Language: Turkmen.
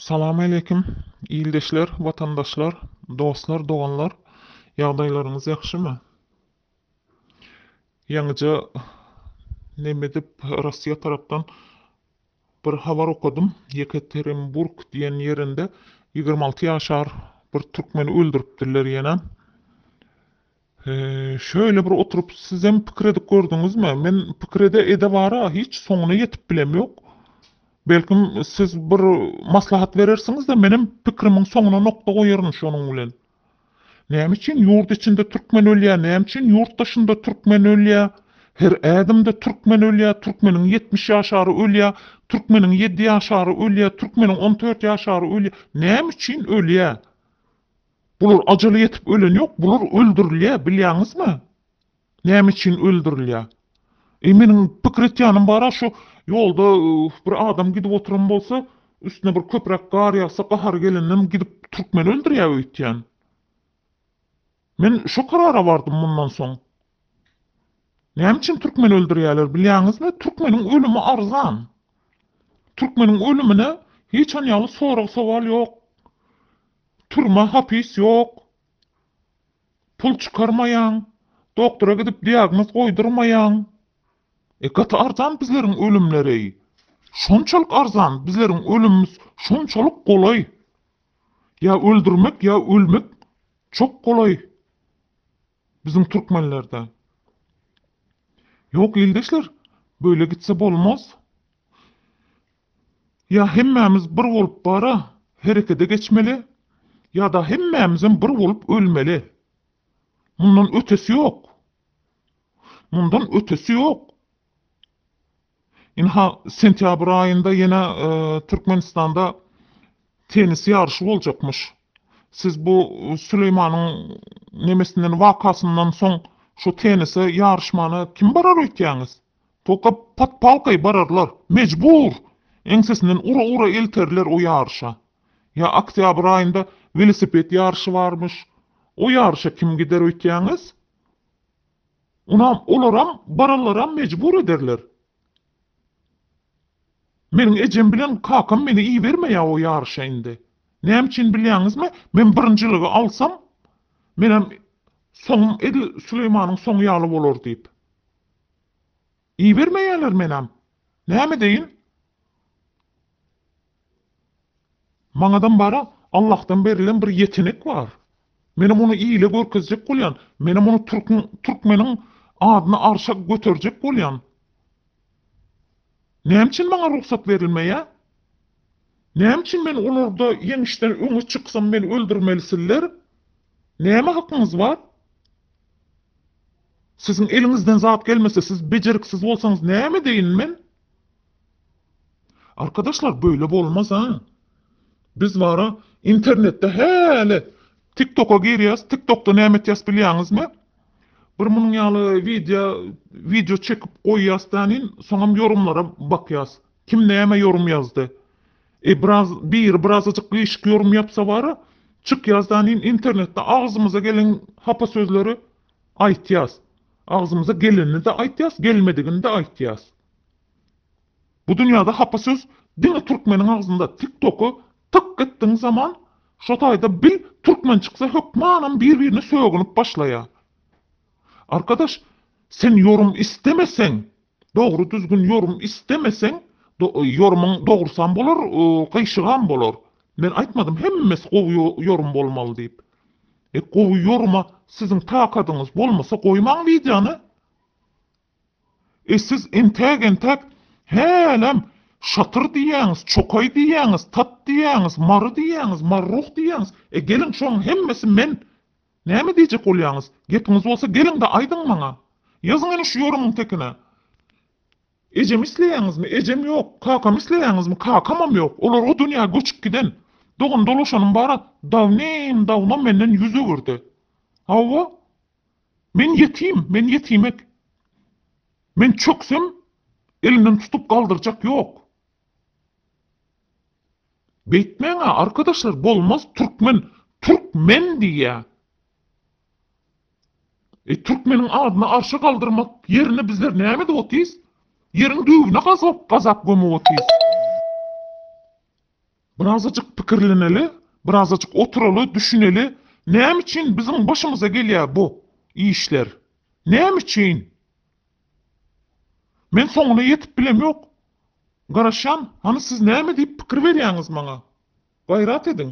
Salamaýlekim, ildeşler, watandaşlar, dostlar, doganlar, ýagdaýlaryňyz ýagşymy? Ýaňyja nemedip Rossiýa tarapdan bir habar okadym, Ýekaterinburg diýen ýerinde ýigrimi alty ýaşar bir türkmeni öldüripdirler ýene. Şöýle bir oturyp sizem pikir edip gördüňizmi? Men pikir ede ede bara hiç soňuna ýetip bilemýok. Belkim siz bir maslahat berersiňizde menem pikrimiň soňuna nokta goýaryn şonuň bilen. Näme üçin ýurt içinde türkmen ölýä näme üçin ýurt daşynda türkmen ölýä her ädimde türkmen ölýä türkmeniň ýetmiş ýaşary ölýä türkmeniň ýedi ýaşary ölýä türkmeniň on dört ýaşary ölýä näme üçin ölýä Bular ajala ýetip ölen ýok, bular öldürilýär, bilýäňizmi? Näme üçin öldürilýär? Eý, meniň pikir etýänim bar-a, şu ýolda bir adam gidip oturan bolsa, üstüne bir köpräk gar ýagsa, gahary gelendem gidip türkmeni öldürýär öýtýän. Men şo karara bardym mundan soň. Näme üçin türkmeni öldürýärler bilýäňizmi? Türkmeniň ölümi arzan. Türkmeniň ölümine hiç hany ýaly sorag-sowal ýok. Türme, hapis ýok. Pul çykarmaýaň. Doktora gidip diagnoz goýdurmaýaň. E, gaty arzan bizleriň ölümleri-eý. Şonçalyk arzan, bizleriň ölümimiz şonçalyk golaý. Ýa öldürmek, ýa ölmek çok golaý. Biziň türkmenlerde. Ýok ildeşler böyle gitse bolmaz. Ýa hemmämiz bir bolup bara herekede geçmeli ýada hemmämizem bir bolup ölmeli. Mundan ötesi ýok. Mundan ötesi ýok. Ynha, sentýabr aýynda ýene Türkmenistanda tennis ýaryşy boljakmyş. Siz bu Süleýmanyň nemesinden, wakasyndan soň şu tennise ýaryşmana kim barar öýtýäňiz? Toka podpalkaýy bararlar. Mejbur! Eňsesinden ura-ura elterler o ýaryşa. Ýa oktýabr aýynda welosiped ýaryşy barmyş. O ýaryşa kim gider öýtýäňiz? Onam olaram baralaram mejbur ederler. Meniň ejem bilen kakam meni ibermeýä o ýaryşa indi. Näme üçin bilýäňizmi? Men birinjiligi alsam, menem soňum edil Süleýmanyň soňy ýaly bolar diýip. Ibermeýärler menäm näme edeýin. Maňadam bara Allahdan berilen bir ýetenek bar. Menem ony ile görkezjek bolýan. Menem ony türküň türkmeniň adyny arşa göterjek bolýan. Näme üçin maňa rugsat berilmeýä? Näme üçin men olarda ýeňişden öňe çyksam meni öldürmelisiller? Näme hakyňyz bar? Siziň eliňizden zat gelmese, siz bejeriksiz bolsaňyz näme edeýin men? Arkadaşlar böyle bolmaz ha. Biz bara internetde häli TikToka girýäs, TikTokda näme etýäs bilýäňizmi? Bir munuň ýaly wideo wideo çekip goýýas tänin, soňam ýorumlara bakýas. Kim näme ýorum ýazdy? E biraz biri birazajyk gişik ýorum ýapsa bara, çyk ýazdanyn internetde agzymyza gelen hapa sözleri aýtýas. Agzymyza gelenini-de aýtýas, gelmedigini-de aýtýas. Bu dünýäde hapa söz diňe türkmeniň agzynda. Tiktoky tyk etdiň zaman şo taýda bil türkmen çyksa hökmanam bir-birine sögünip başlaýar. Arkadaş, sen ýorum istemeseň, Dogry düzgün ýorum istemeseň ýorumyň dogrusam bolar gyşygam bolar men aýtmadym hemmesi gowy ýorum bolmaly diýip e gowy ýoruma siziň takadyňyz bolmasa goýmaň wideony e siz entäk entäk hälem şatyr diýýäňiz çokaý diýýäňiz tat diýýäňiz mary diýýäňiz marruh diýýäňiz e geliň şoň hemmesi men Näme diýjek bolýaňyz? Gepiňiz bolsa geliň-de aýdyň maňa. Ýazyň ine şu ýorumyň tekine. Ejemi isleýäňizmi? Ejem ýok. Kakamy isleýäňizmi? Kakamam ýok. Olar o dünýä göçüp giden. Dogan-dolaşanym bar-a. Dawnim-dawno menden ýüz öwürdi. Hawa. Men ýetim, men ýetimek. Men çöksem, elimden tutup galdyrjak ýok. Beýtmäňä arkadaşlar bolmaz türkmen türk men diýýä. E türkmeniň adyny arşa galdyrmak ýerine bizler näme edip otyrys? Ýeriň düýbüne gazap gazap gömüp otyrys. Birazajyk pikirleneli, birazajyk oturaly, düşüneli, näme üçin biziň başymyza gelýär bu işler? Näme üçin? Men soňuna ýetip bilemok. Garaşýan, hany siz näme diýip pikir berýäňiz maňa? Gaýrat ediň.